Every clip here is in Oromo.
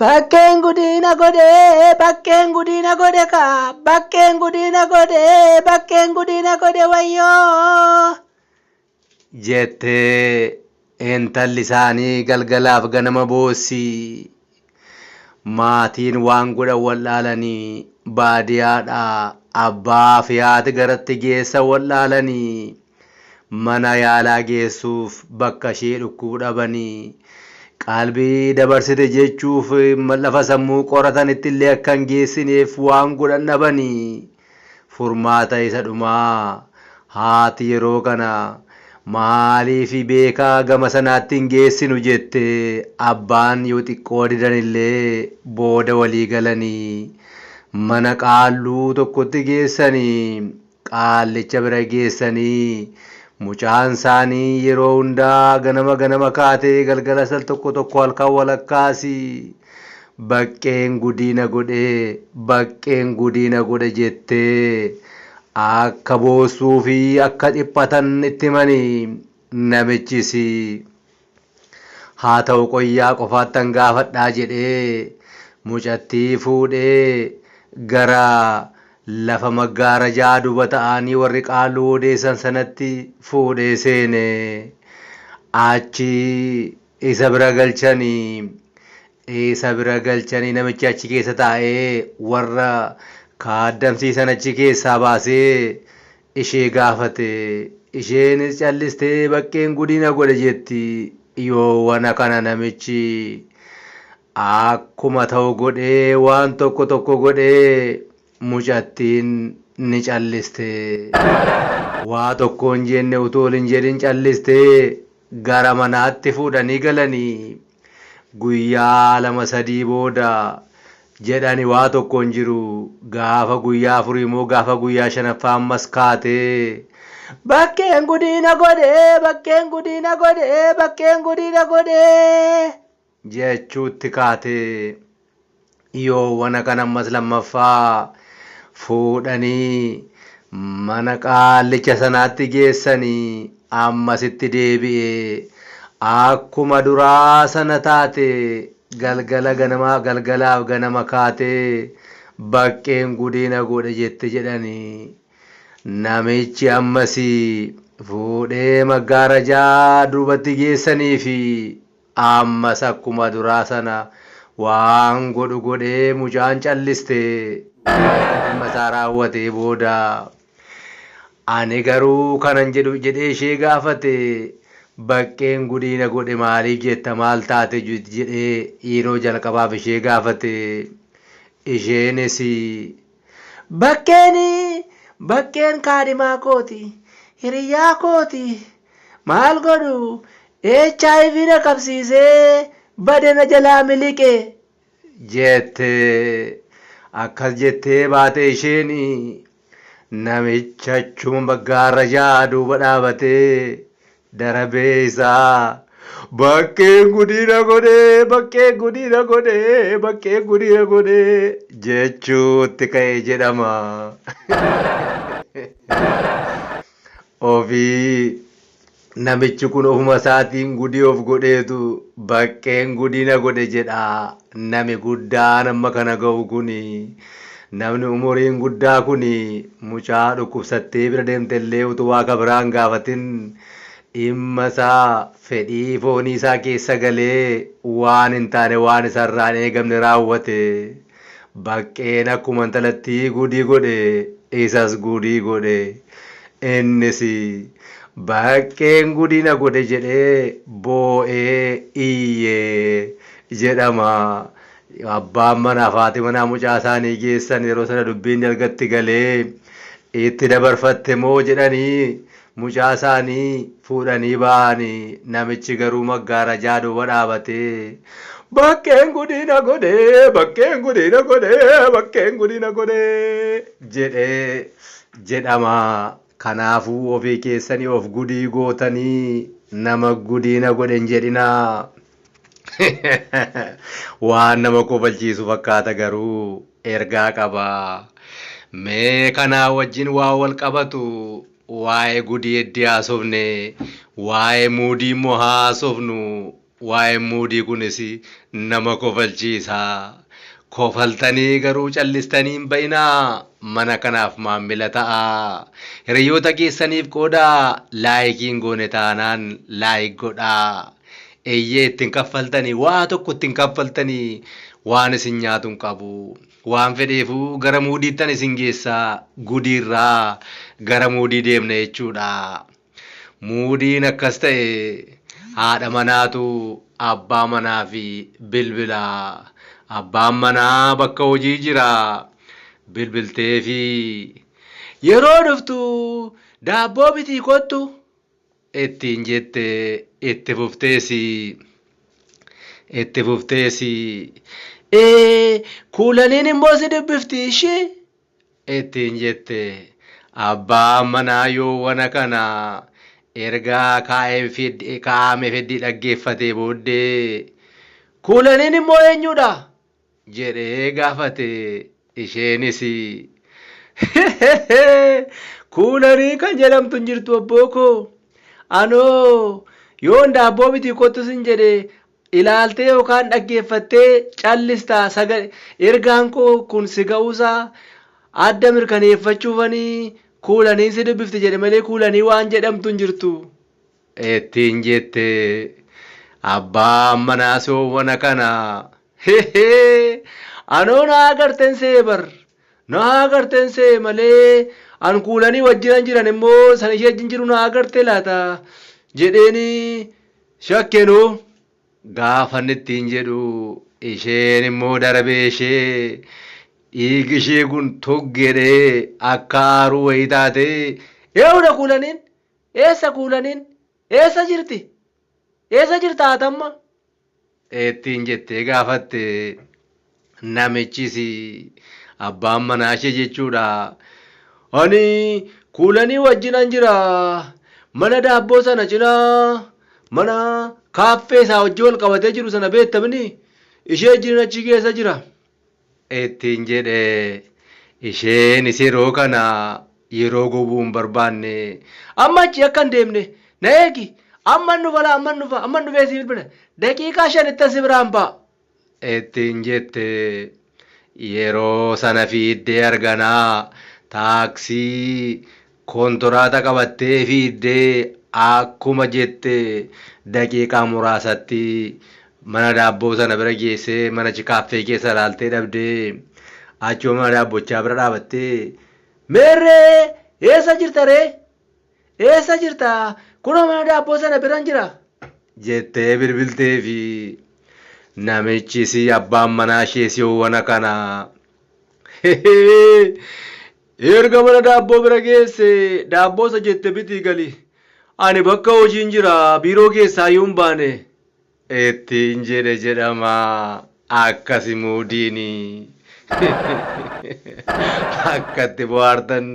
Bakkeen gudiina godhe bakkeen gudiina godhe kaa bakkeen gudiina godhe bakkeen gudiina godhe wayyoo jette intalli isaanii galgalaaf ganama boossi. Maatiin waan godhan wal'aalanii baadiyaadhaa abbaa fi haati garatti geessan wal'aalanii mana yaalaa geessuuf bakka ishee dhukkubu dhabanii qalbii dabarsite jechuuf lafa sammuu qoratanitti illee akka hin geessineef waan godhan dhabanii Furmaata isa dhumaa haati yeroo kana maaliif Beekaa gama sanaatti hin geessinu jette abbaan yoo xiqqoo didan illee booda walii galanii mana qaalluu tokkotti geessanii qaallicha bira geessanii mucaan isaanii yeroo hundaa ganama ganama kaatee galgalas al tokko tokko halkan walakkaas Baqqeen gudii na godhe baqqeen gudii na godhe jettee akka boossuu fi akka dhiphatan itti himani. Namichis Haa ta'u qoyyaa qofaattan gaafadhaa jedhee mucattii fuudhee gara lafa maggaarajaa duba ta'aanii warri qaalluun odeessan sanatti fuudhee seene. Achi Isa bira galchani. Isa bira galchanii namichi achi keessa taa'ee warra kaaddamsiisan achi keessaa baasee ishee gaafate. Isheenis callistee baqqeen gudii na godhe jetti. Yoowana kana namichi Akkuma ta'u godhee waan tokko tokko godhee mucattiin ni calliste. Waa tokko hin jenne utuu ol hin jedhin calliste. Gara manaatti fuudhanii galanii. Guyyaa lama sadii booda jedhani waa tokko hin jiru. Gaafa guyyaa afurii moo gaafa guyyaa shanaffaa ammas kaate. Bakkeen gudii na godhe, bakkeen gudii na godhe, bakkeen gudii na godhe. jechuutti kaate. Yoo wana kana ammas lammaffaa fuudhanii mana qaallicha sanaatti geessanii ammas itti deebi'ee akkuma duraa sana taate galgala ganama galgalaaf ganama kaatee baqqeen gudee na godhe jette jedhani. Namichi ammas fuudhee maggaarajaa duubatti geessaniifi Ammas akkuma duraa sana waan godhu godhee mucaan calliste. Erga dhimma isaa raawwatee booda Ani garuu kanan jedhu jedhee ishee gaafate. Baqqeen gudiina godhe maaliif jetta maal taate jedhee yeroo jalqabaaf ishee gaafate. Isheenis Bakkeen Bakkeen kaadhimaa kooti, hiriyyaa kooti. Maal godhu hiv na qabsiisee bade na jalaa miliqe. Jette. Akkas jettee baate isheen. Namichi achuma baggaarra ja'a duuba dhaabatee darabee isaa baqqeen gudiina godhee baqqeen gudiina godhee baqqeen gudiina godhee jechuutti ka'e jedhama. Ofii namichi kun ofuma isaatiin gudii of godheetu baqqeen gudiina godhe jedha. Nami guddaan amma kana gahu kuni, namni umuriin guddaa kuni mucaa dhukkubsattee bira deemte illee utuu waa ka biraa hin gaafatin dhimma isaa, fedhii foonii isaa keessa galee waan hin taane waan isa irraa hin eegamne raawwate. Baqqeen akkuma intalattii guudii godhe isas guudii godhe. Innis, Baqqeen gudii na godhe jedhee boo'ee iyye. jedhama. Abbaan manaaf haati manaa mucaa isaanii geessan yeroo sana dubbiin dalgatti galee itti dabarfatte moo jedhanii mucaa isaanii fuudhanii ba'ani. Namichi garuu maggaarajaa duuba dhaabatee bakkeen gudii na godhe, bakkeen gudii na godhe, bakkeen gudii na godhe jedhe jedhama. Kanaafuu ofii keessanii of gudii gootanii nama gudii na godhe hin jedhinaa. Waan nama kofalchiisu fakkaata garuu ergaa qaba. Mee kanaa wajjin waan wal qabatu waa'ee gudii eddii haasofne, waa'ee muudii immoo haa haasofnu. Waa'een muudii kunis nama kofalchiisa. Kofaltanii garuu callistanii hin ba'inaa. Mana kanaaf maammila ta'aa. Hiriyoota keessaniif qoodaa. Laayikii hin goone taanaan laayik godhaa. Eeyyee itti hin kaffaltanii waa tokko itti hin kaffaltanii waan isin nyaatu hin qabu waan fedheefuu gara muudiittan isin geessaa gudiirraa gara muudii deemna jechuudha muudiin akkas ta'e haadha manaatu abbaa manaa fi bilbila abbaan manaa bakka hojii jira bilbiltee fi yeroo dhuftu daabboo bitii kottu ittiin jette itti fufteesi itti fufteesi ee kuulaniin immoo si dubbifti ishi ittiin jette abbaan manaa yoo wana kana ergaa kaa'ame fiddii dhaggeeffatee booddee kuulaniin immoo eenyuudha jedhee gaafate. Isheenis Hehehe! Kuulanii kan jedhamtu hin jirtu abboo koo. Anoo yoon daabboo bitii kottu sin jedhe ilaaltee yookaan dhaggeeffattee callista sagal ergaan koo kun si ga'uusaa adda mirkaneeffachuufanii kuulaniin si dubbifti jedhe malee kuulanii waan jedhamtu hin jirtu. Ittiin jette abbaan manaa soowwana kana hehee anoo na agarten see bar na agarten see malee an kuulanii wajjinan jiran immoo san ishee wajjin jiru na agarte laata jedheeni shakkenu gaafanni ittiin jedhu isheen immoo darbee ishee dhiigi ishee kun toggeedhee akka aaruu wayii taatee eewudha kuulaniin Eessa Kuulaniin? Eessa jirti? Eessa jirta ati amma? ittiin jettee gaafatte. Namichis abbaan manaashee jechuudha. Ani Kuulanii wajjinan jira. Mana daabboo sana cinaa mana kaaffee isaa wajjin wal qabatee jiru sana beektamini ishee wajjinin achi keessa jira. ittiin jedhe. Isheenis yeroo kana yeroo gubuu hin barbaanne. Amma achi akka hin deemne na eegi. Amman dhufa laa amman dhufa amman dhufee si bilbila. Daqiiqaa shanittan si biraan ba'a. ittiin jette. Yeroo sana fiiddee arganaa taaksii Kontoraata qabattee fiiddee akkuma jette daqiiqaa muraasatti mana daabboo sana bira geessee mana chikaaffee keessa ilaaltee dhabdee achuma mana daabbochaa bira dhaabattee Meerree eessa jirta ree? Eessa jirta? Kunoo mana daabboo sana biran jira jettee bilbilteefi. Namichis abbaan manaa ishees yoowwana kana Erga mana daabboo bira geesse daabboo isa jette bitii gali. Ani bakka hojiin jira biiroo keessaayyuu hin baane. Ittiin jedhe jedhama akkasi muudiini. Akka itti bohaartan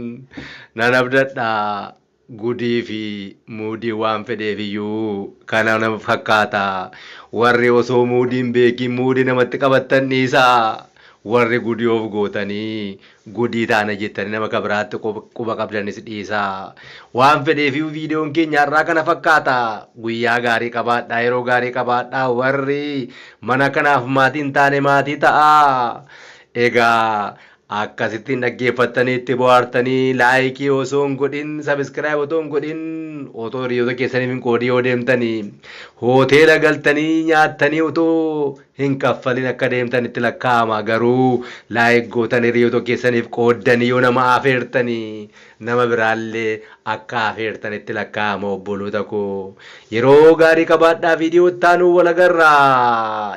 nan abdadha. Gudii fi muudiin waan fedheef iyyuu kana nama fakkaata. Warri osoo muudii hin beekiin muudii namatti qabattan dhiisaa. Warri gudii of gootanii gudii taana jettanii nama ka biraatti quba qabdanis dhiisaa. Waan fedheef iyyuu viidiyoon keenya har'aa kana fakkaata. Guyyaa gaarii qabaadhaa, yeroo gaarii qabaadhaa. Warri mana kanaaf maatii hin taane maatii ta'aa. Egaa Akkasitti hin dhaggeeffattanii itti bohaartanii laayikii osoo hin godhin sabiskiraayib otoo hin godhin otoo hiriyoota keessaniif hin qoodii yoo deemtanii hooteela galtanii nyaattanii otoo hin kaffalin akka deemtan itti lakkaa'ama garuu laayik gootan hiriyoota keessaniif qooddanii yoo nama afeertanii nama biraallee akka afeertan itti lakkaa'ama obboloota koo yeroo gaarii qabaadhaa viidiyoo ittaanuu walagarraa